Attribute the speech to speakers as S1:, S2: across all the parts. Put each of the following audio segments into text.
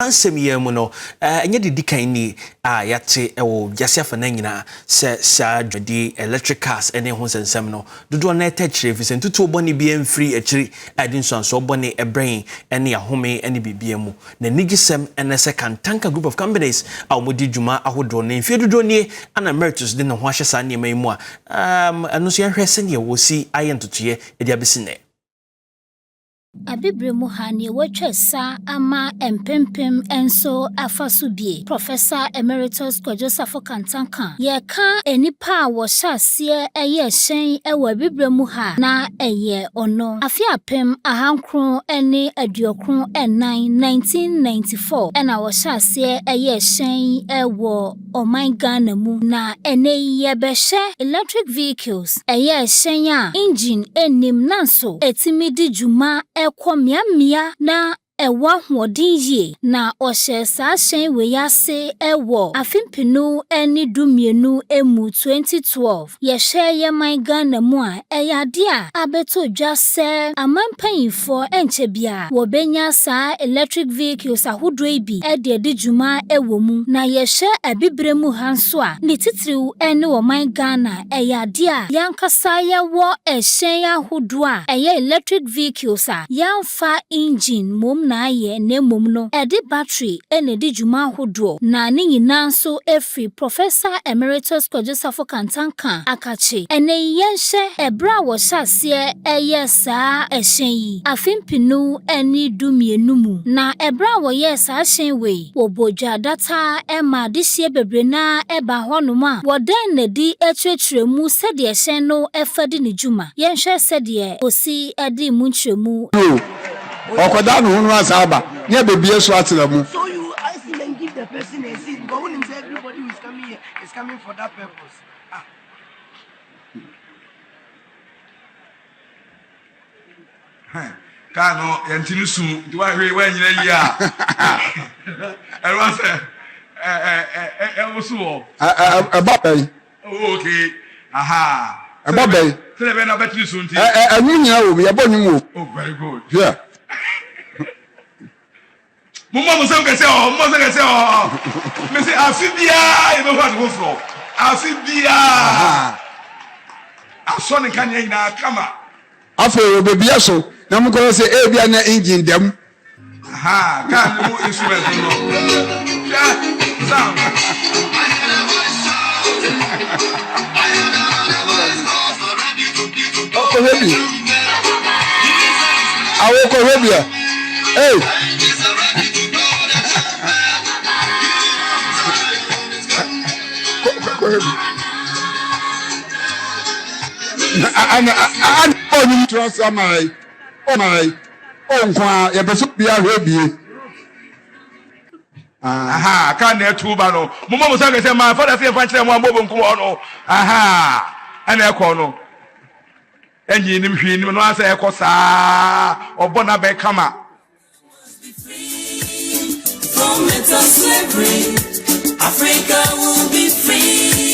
S1: Nsɛm yi ara mu no, ɛnyɛ deɛ ɛdi kan ni a yɛate wɔ wiase afanan nyinaa sɛ saa dwumadi yi, electric cars ne ɛho nsɛnsɛm no, dodoɔ no ara taa kyerɛ efisɛ ntutuo bɔne biara mfiri akyiri a ɛde nsuansoɔ bɔne brɛ yɛn ne ahome ne biribiara mu. Na anigyesɛm ne sɛ Kantanka Group of Companies a wɔdi dwuma ahodoɔ no, mfeɛ dodoɔ nie na Meritus de ne ho ahyɛ saa nneɛma yi mu a ɛno nso yɛnhwɛ sɛdeɛ wɔsi ayɛ ntotoeɛ de abɛsi nnɛ. Abibire
S2: mu ha nea watwa asa ama mpempem nso afa so bi. Professor Emeritus Kwadwo Safo Kantah ka, Yɛka nnipa a wɔhyɛ aseɛ yɛɛ hyɛn wɔ Abibire mu ha a, na ɛyɛ ɔno. Afe apem ahankron ne aduokron nnan, 1994, na wɔhyɛ aseɛ yɛɛ hyɛn wɔ. ɔman Ghana mu na ɛnnɛ yi yɛbɛhwɛ electric vehicles, ɛyɛ ɛhyɛn a engine nnim nanso ɛtumi di dwuma kɔ mmeammea na ɛwɔ ahoɔden yie na ɔhyɛɛ saa hyɛn wei ase wɔ afe mpenu ne du mmienu mu 2012. Yɛhwɛ yɛn man Ghana mu a, ɛyɛ ade a abeto dwa sɛ aman mpanyimfoɔ ɛnkyɛ biara wɔbɛnya saa electric vehicles ahodoɔ yi bi de adi dwuma wɔ mu. Na yɛhwɛ Abibire mu ha nso a, ne titiriw ne ɔman Ghana a, ɛyɛ ade a yɛn ankasa yɛwɔ ɛhyɛn ahodoɔ a ɛyɛ electric vehicles a yɛn fa engine mmom na ayɛ na mmom no ɛde battery na ɛdi dwuma ahodoɔ na ne nyinaa nso firi Professor Emeritus Kojo-Safo Kantanka akakye. Ɛnnɛ yi yɛnhwɛ ɛberɛ a wɔhyɛ aseɛ ɛyɛɛ saa ɛhyɛn yi afe mpenu ɛne du mmienu mu na ɛberɛ a wɔyɛɛ saa hyɛn wei. Wɔbɔ dwa data ara ma adehyeɛ bebree no ara ba hɔnom a, wɔdan no adi kyerɛkyerɛ mu sɛdeɛ hyɛn no fa di ne dwuma. Yɛnhwɛ sɛdeɛ Kosi dii mu nkyerɛmu. Bio, ɔkɔda
S3: ne ho no asa aba ne abɛbue so atra mu.
S4: kaa no yɛnte no su nti woahwere woanyina yie a ɛreba sɛ ɛwoso wɔ ɛba bɛn
S3: ok
S4: aha ɛba bɛn
S3: sɛdeɛ bɛn na wobɛte no
S4: su nti ɛno nyina wɔ bi ɛbɔ
S3: nwom wɔ oh very good yeah
S4: Mommɔ mo nsam kɛse ɔɔ, mommɔ nsam kɛse ɔɔ. Mese afe biara yɛbɛhu ade foforɔ, afe biara asɔ ne nkanea nyinaa kama. Afei
S3: wɔbɛbia so na mokɔhwɛ sɛ ebia na engine da mu. Aha,
S4: kaa no mu instrument no no. Hwɛ,
S3: sound. Ɔkɔhwɛ bi. Awokɔhwɛ bi a. Hey! Ana ana ɔnum tura sɛ ɔma yi ɔma yi ɔnko a yɛpɛ so bi ahwɛ bie.
S4: Aha ka na ɛtu ba no mo mɔ mo sa kɛsɛ maa fada se yɛn fa nkyerɛ mo a mo bɔ nkum hɔ no aha ɛna ɛkɔ no. Ɛnye nnim hwee nim no ara sɛ ɛkɔ saa ɔbɔ n'abɛn kama. From mental slavery,
S5: Africa will be free.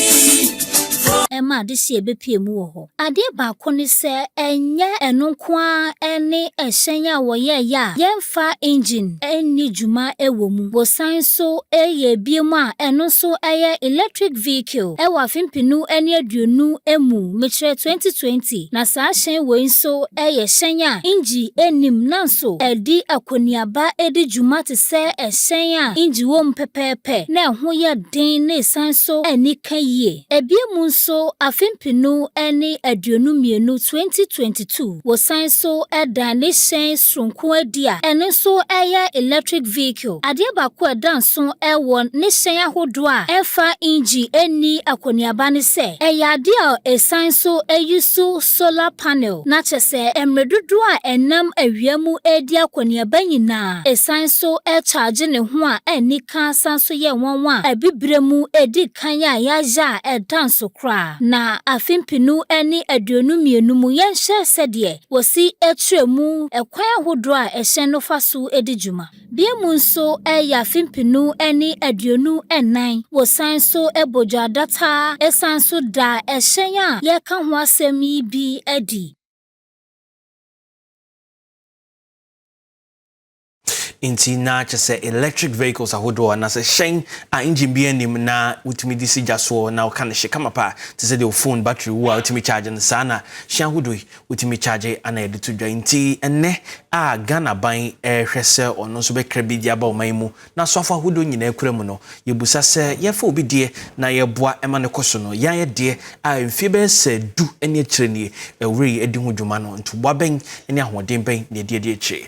S2: ɛma adehyeɛ bɛpue mu wɔ hɔ. Adeɛ baako ne sɛ, ɛnyɛ ɛno nko ara ne ɛhyɛn a wɔyɛeɛ a fa engine nni dwuma wɔ mu. Wɔsan nso reyɛ biom a ɛno nso yɛ electric vehicle wɔ afe mpenu ne aduonu mu, mekyerɛ 2020, na saa hyɛn wei nso yɛ hyɛn a engine nnim nanso ɛde akɔneaba di dwuma te sɛ ɛhyɛn a engine wɔ mu pɛpɛɛpɛ na ɛho yɛ den na ɛsan nso ani ka yie. Biom nso afe mpenu ne aduonu mmienu, 2022, wɔsan nso dan ne hyɛn soronko adi a ɛno nso yɛ electric vehicle. Adeɛ baako a ɛda nso wɔ ne hyɛn ahodoɔ a ɛmfa engyi nni akɔneaba ne sɛ ɛyɛ adeɛ a ɛsan nso use solar panel na kyerɛ sɛ mmerɛ dodoɔ a ɛnam awia mu redi akɔneaba nyinaa ɛsan nso charge ne ho a ɛnni ka san nso yɛ nwanwa a abibire mu ɛdi kan a yɛayɛ a ɛda nso koraa na afe mpenu ne aduonu mmienu mu yɛnhwɛ sɛdeɛ Wosi kyerɛ mu kwan ahodoɔ a ɛhyɛn no fa so di dwuma. Bia mu nso yɛ afe mpenu ne aduonu nnan. Wosan nso bɔ dwadata san nso da ɛhyɛn a yɛreka ho asɛm yi bi adi.
S1: Enti na kyerɛ sɛ electric vehicles ahodoɔ anaasɛ hyɛn a engine biara nnim na wotumi de si gya soɔ na woka no hye kama paa te sɛ deɛ wo phone battery wu a wotumi charge no saa na hyɛn ahodoɔ yi wotumi charge ana yɛde to dwa nti ɛnnɛ a Ghana ban rehwɛ sɛ ɔno nso bɛkra bi de aba ɔman yi mu na asɔafo ahodoɔ nyinaa kura mu no yɛbusa sɛ yɛfa obi deɛ na yɛboa ɛma no kɔ so no yɛn ayɛ deɛ a mfie bɛyɛ sɛ du ne akyire nie ɛwura yi adi ho dwuma no ntoboa bɛn ne ahoɔden bɛn na yɛde adi akyire